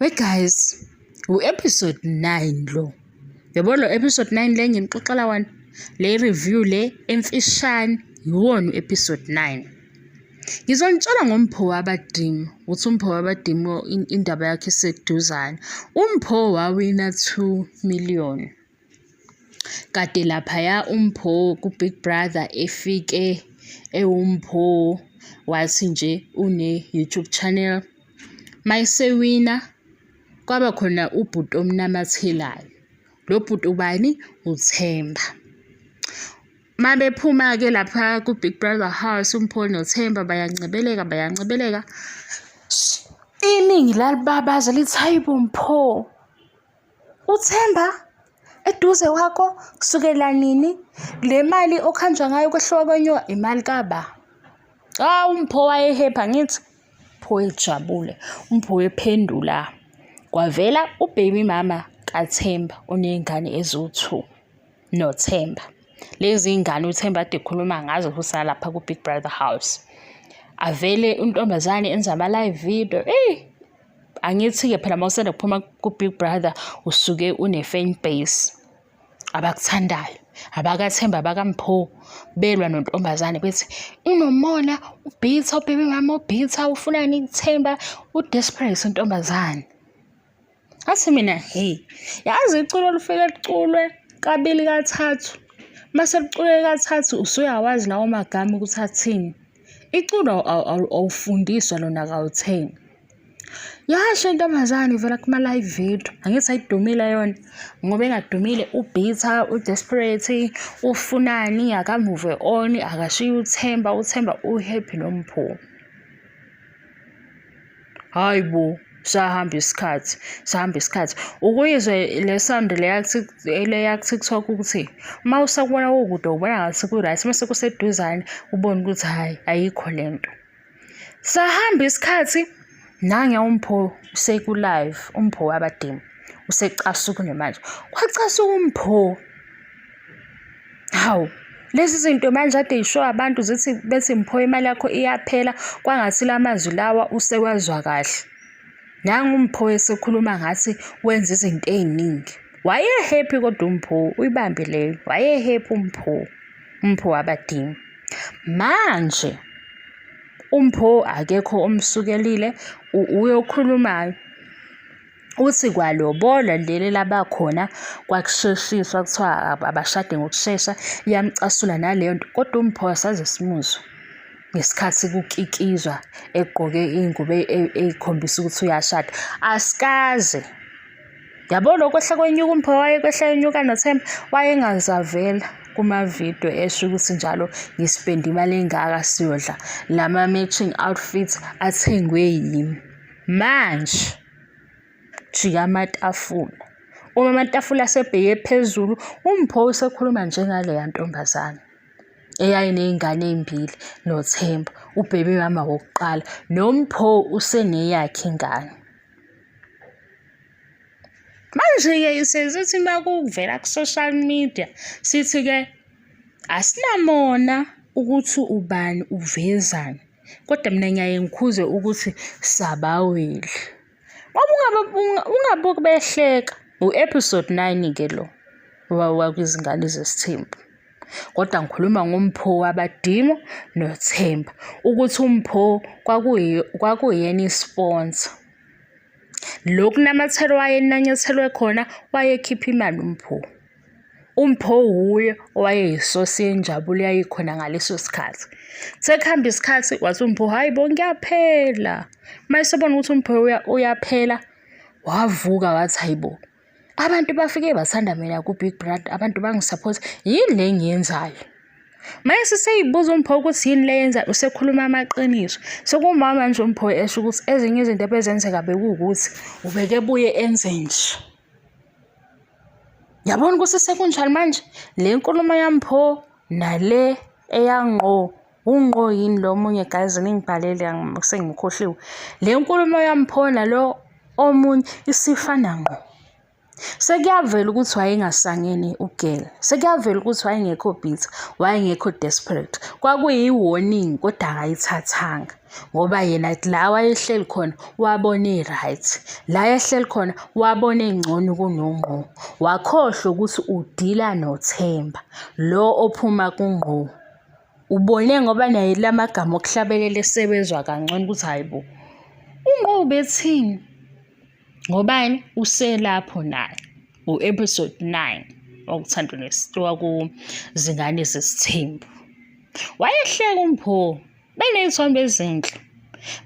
We guys, u-episode 9 lo. Yabo lo episode 9 le nginixoxela wani? Le review le emfishane yiwona u-episode 9. Ngizonitshela ngompho wabadimu ukuthi umpho wabadimu indaba yakhe iseduzane. Umpho wawina 2 million. Kade laphaya uMpho kuBig Brother efike ewuMpho wathi nje une-YouTube channel. Mayesewina kwaba khona ubhuti omnamathelayo. Lo bhuti ubani? UThemba. Mabephuma-ke lapha kuBig Brother House uMpho noThemba bayancebeleka bayancebeleka. Iningi lalibabaza lithi, "Hayibo Mpho!" UThemba eduze kwakho kusukela nini le mali okuhanjwa ngayo kwehluka kwenyoka imali kaba hawu mpho wayehepha ngithi pho ejabule umpho wephendula kwavela ubaby mama kathemba oney'ngane eziwu-two nothemba lezi y'ngane uthemba ade ekhuluma ngazo kusalapha ku-big brother house avele untombazane enza ama-live video eyi angithi-ke phela uma usanda kuphuma ku-big brother usuke une-fan base abakuthandayo abakathemba abakampho belwa nontombazane bethi unomona ubhitha ubhebe mama ubhitha ufunani ithemba udesperate intombazane athi mina hey yazi iculo olufike liculwe kabili kathathu mase liculwe kathathu usuyawazi lawo magama ukuthi athini Iculo awufundiswa lona kawuthengi. Yasho intombazane ivela kuma-live video, angithi ayidumile yona ngoba engadumile u-bitter, u-desperate, ufunani, akamuve on, akashiye uthemba, uthemba u-happy noMpho. hayi bo sahamba isikhathi sahamba isikhathi ukuyizwe le sound leyaku-tiktok ukuthi uma usakubona kukude ubona ngathi ku-right mase kuseduzane ubone ukuthi hhayi ayikho le nto sahamba isikhathi nange umpho sekulive umpho wabadima usecasuke nje manje kwacasuka umpho Hawu, lezi zinto manje ade yisho abantu zithi bethi mpho imali yakho iyaphela kwangathi la mazwi lawa usewazwa kahle. Nangu uMpho esekhuluma ngathi wenza izinto ey'ningi. Wayehappy kodwa uMpho, uyibambe leyo. Wayehappy uMpho, uMpho wabadinga. Manje uMpho akekho omsukelile uyokhulumayo. Uthi kwalobolwa leli labakhona kwakusheshiswa kuthiwa abashade ngokushesha, iyamcasula naleyo nto kodwa uMpho saze simuzwe ngesikhathi kukikizwa egqoke iy'ngubo e, e, ey'khombisa ukuthi uyashada, asikaze. Yabo lokho kwehla kwenyuka uMpho wayekwehla enyuka noThemba wayengazavela kumavidiyo esho ukuthi njalo ngisipenda imali engaka siyodla lama-matching outfits athengwe yimi. Manje jika amatafula. Uma amatafula asebheke phezulu, uMpho usekhuluma njengaleya ntombazane eyayiney'ngane ey'mbili noThemba, ubhebe mama wokuqala, noMpho useneyakhe ingane. Manje-ke sesithi uma kuvela ku-social media, sithi-ke asinamona ukuthi ubani uvezani. kodwa mina ngiyaye ngikhuze ukuthi sabawile ngoba ungabuki behleka u-episode nine ke lo wakwizingane zesithembu kodwa ngikhuluma ngompho wabadimo nothemba ukuthi umpho kwakuyena isponsa lokhu namathelo wayenanyathelwe khona wayekhipha imali umpho UMpho wuye owayeyisosi yenjabulo eyayikhona ngaleso sikhathi. Sekuhamba isikhathi wathi uMpho hhayi bo ngiyaphela. Uma esebona ukuthi uMpho uyaphela wavuka wathi hhayi bo abantu bafike bathanda mina ku-Big Brother abantu bangisaphotha yini le engiyenzayo. Mase seyibuza uMpho ukuthi yini le yenza usekhuluma amaqiniso. Sekumama nje uMpho esho ukuthi ezinye izinto ebezenzeka bekuwukuthi ubekebuye enze nje. Yabona ukuthi sekunjani manje le nkulumo yami pho nale eyangqo ungqo yini lo omunye guys ningibhalele sengimkhohliwe le nkulumo yami pho nalo omunye isifana ngqo sekuyavela ukuthi wayengasangene ugela sekuyavela ukuthi wayengekho bitter wayengekho desperate kwakuyi-warning kodwa akayithathanga ngoba yena la wayehleli khona wabona i-right la ehleli khona wabona engcono kunongqo wakhohlwa ukuthi udila nothemba lo ophuma kungqo ubone ngoba naye la magama okuhlabelela esebezwa kangcono ukuthi hhayi bo ungqo ubethini ngobani uselapho naye u-episode nine wakuthandwa nesithiwa kuzingane zesithembu wayehleka umpho benezithombe ezinhle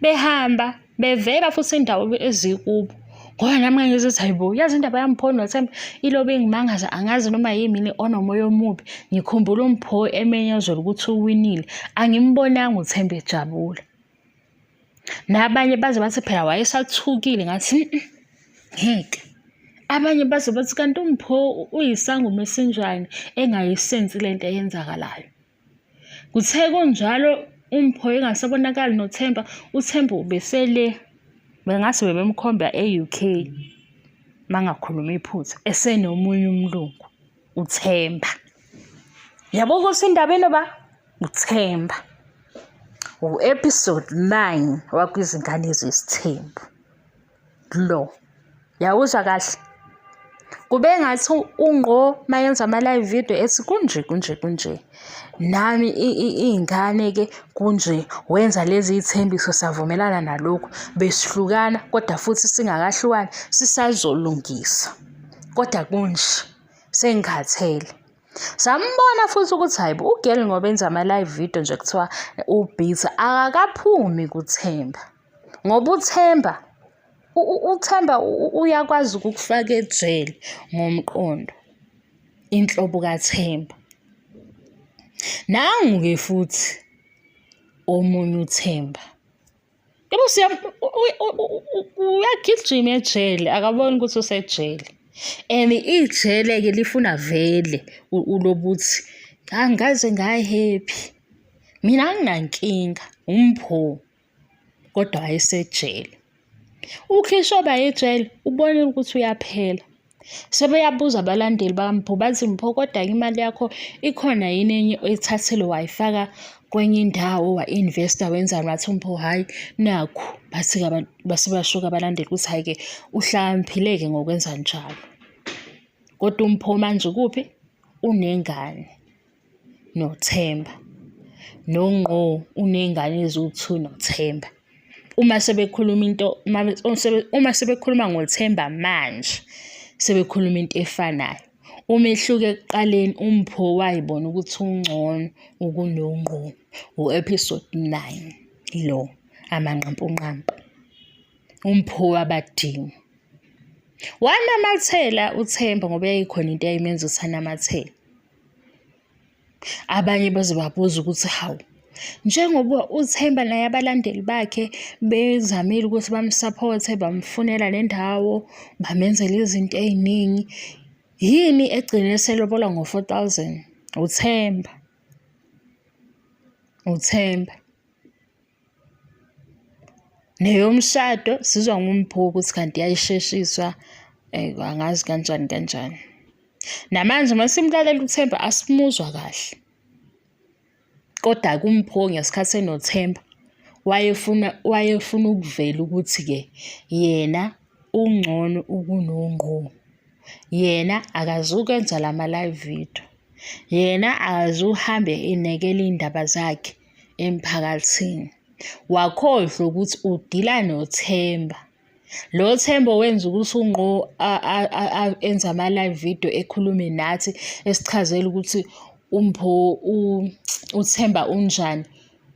behamba bevela futhi indawo ezikubo ngoba nami ngangizithi hayibo yazi indaba yamphoni nothemba ilobe ingimangaza angazi noma yimini onomoya omubi ngikhumbula umpho emenyezela ukuthi uwinile angimbonanga uthemba ejabula nabanye baze bathi phela wayesathukile ngathi ngeke abanye baze bathi kanti umpho uyisangoma esinjani engayisensi lento eyenzakalayo Kuthe kunjalo uMpho engasabonakali noThemba, uThemba ubesele bengase bebemkhomba e-UK mangakhuluma iphutha esenomunye umlungu uThemba. Yabo ukuthi indaba enoba uThemba. U-episode 9 wakwiZingane Zesithembu. lo yawuzwa kahle kube ngathi ungqo mayenza ama-live video ethi kunje kunje kunje nami iy'ngane ke kunje wenza lezi iy'thembiso savumelana nalokhu besihlukana kodwa futhi singakahlukani sisazolungisa kodwa kunje sengikhathele Sambona futhi ukuthi hayibo ugirl ngoba enza ama-live video nje kuthiwa ubhizi akakaphumi kuThemba. ngoba uthemba uthemba uyakwazi ukukufaka ejele ngomqondo inhlobo kathemba nangu-ke futhi omunye uthemba yebo uyagijima ejele akaboni ukuthi usejele and ijele-ke lifuna vele ulobuthi angaze ngayi-happy mina anginankinga umpho kodwa wayesejele. Ukhishwe bayejele ubone ukuthi uyaphela. Sebeyabuza abalandeli bakaMpho bathi Mpho kodwa-ke imali yakho ikhona yini enye oyithathile wayifaka kwenye indawo wa-investa wenzani wathi uMpho hhayi nakhu base bashuka abalandeli ukuthi hhayi-ke uhlakaniphile-ke ngokwenza njalo. Kodwa uMpho manje ukuphi? Unengane. noThemba nongqo uney'ngane eziwu-two noThemba. Uma sebekhuluma into uma sebekhuluma ngoThemba manje sebekhuluma into efanayo. Umehluko ekuqaleni uMpho wayibona ukuthi ungcono ukunongqo u-episode nine lo amanqampunqampu. UMpho wabadinga. Wanamathela uThemba ngoba yayikhona into eyayimenza ukuthi anamathele. Abanye bazobabuza ukuthi hawu njengoba uThemba naye abalandeli bakhe bezamile ukuthi bamsaphothe bamfunela le ndawo bamenzela izinto ey'ningi yini egcine selobola ngo-four thousand uThemba uThemba neyomshado sizwa ngumbhuku ukuthi kanti yayisheshiswa eh, angazi kanjani kanjani namanje uma simlalela uthemba asimuzwa kahle kodwa kumpho ngesikhathi enothemba wayefuna wayefuna ukuvela ukuthi-ke yena ungcono ukunongqo yena akazukwenza la ma-live video yena akazuhambe enekela iy'ndaba zakhe emphakathini wakhohlwa ukuthi udila nothemba lo themba owenza ukuthi ungqo enze ama-live video ekhulume nathi esichazela ukuthi umpho uthemba unjani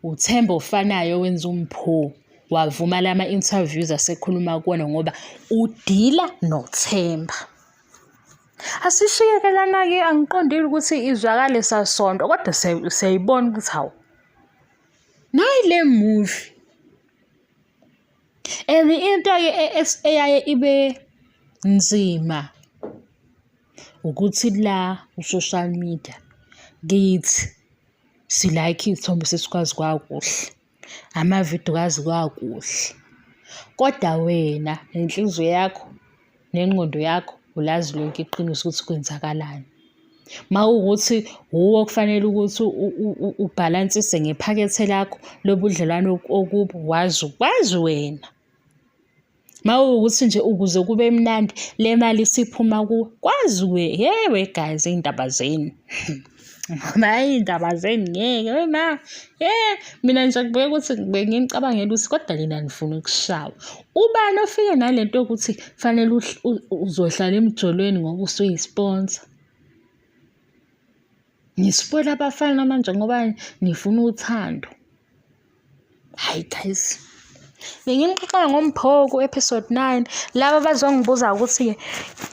uthemba ofanayo owenza umpho wavuma lama interviews asekhuluma kuwona ngoba udila nothemba Asishiyekelana-ke angiqondile ukuthi izwakale sasonto kodwa siyayibona ukuthi hawu nayi le movie and into-ke e, e, eyaye ibe nzima ukuthi la ku-social media kithi silayikhe iy'thombe sesikwazi kwakuhle. amavidiyo kazi kwakuhle kodwa wena nenhliziyo yakho nengqondo yakho ulazi lonke iqiniso ukuthi kwenzakalani mawukuthi wuwe okufanele ukuthi ubhalansise ngephakethe lakho lobudlelwano okubo wazi wazi wena. mawukuthi nje ukuze kube mnandi le mali isiphuma ku kwaziwe yewe guys iy'ndaba zenu ngoba iy'ndaba zenu ngeke wema ye mina nje kubeka ukuthi bengicabangela ukuthi kodwa lina nifuna ukushawa ubani ofike nale nto yokuthi kufanele uzohlala emjolweni ngoba usuyi-sponsor Ngisifela abafana manje ngoba nifuna uthando. Hayi guys. Benginixoxela ngoMphoko episode 9 laba bazongibuza ukuthi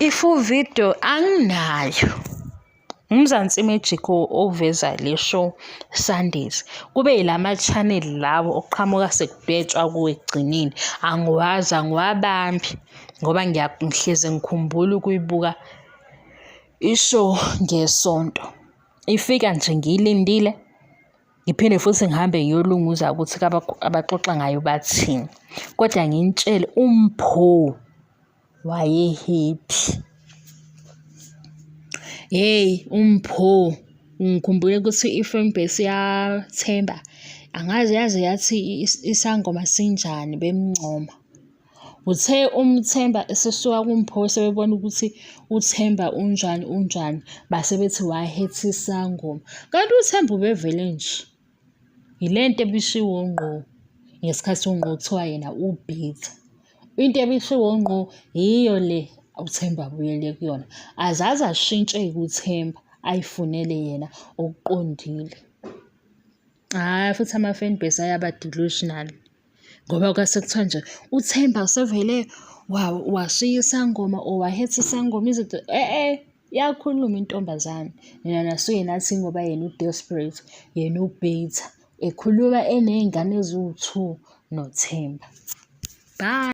i-full video anginayo. Umzansi Magic oveza le show Sundays kube yilama channel lawo okuqhamuka sekudwetshwa kuwe ekugcineni angiwazi angiwabambi ngoba ngiyahleze ngikhumbula ukuyibuka Isho ngesonto. Ifika nje ngiyilindile. Ngiphinde futhi ngihambe ngiyolunguza ukuthi abaxoxa ngayo bathini. Kodwa nginitshele uMpho wayehephi. Hey uMpho ngikhumbule ukuthi i-fan base yaThemba angazi yaze yathi isangoma sinjani bemncoma. Uthe uMthemba esesuka kuMpho sebebona ukuthi uThemba unjani unjani base bethi wahethi isangoma. Kanti uThemba ubevele nje. Yile nto ebishiwo ngqo ngesikhathi ungqo kuthiwa yena ubhithi. Into ebishiwo ngqo yiyo le uThemba abuyele kuyona. Azaze ashintshe-ke uThemba ayifunele yena okuqondile. Hhayi futhi ama-fan base ayaba delusional ngoba kwase kuthiwa nje uThemba usevele washiya isangoma or wahetha isangoma izinto e-e eh, eh, yakhuluma intombazane nina nasuke nathi ngoba yena u-desperate yena u-bitter ekhuluma eney'ngane eziwu-two noThemba. Bye.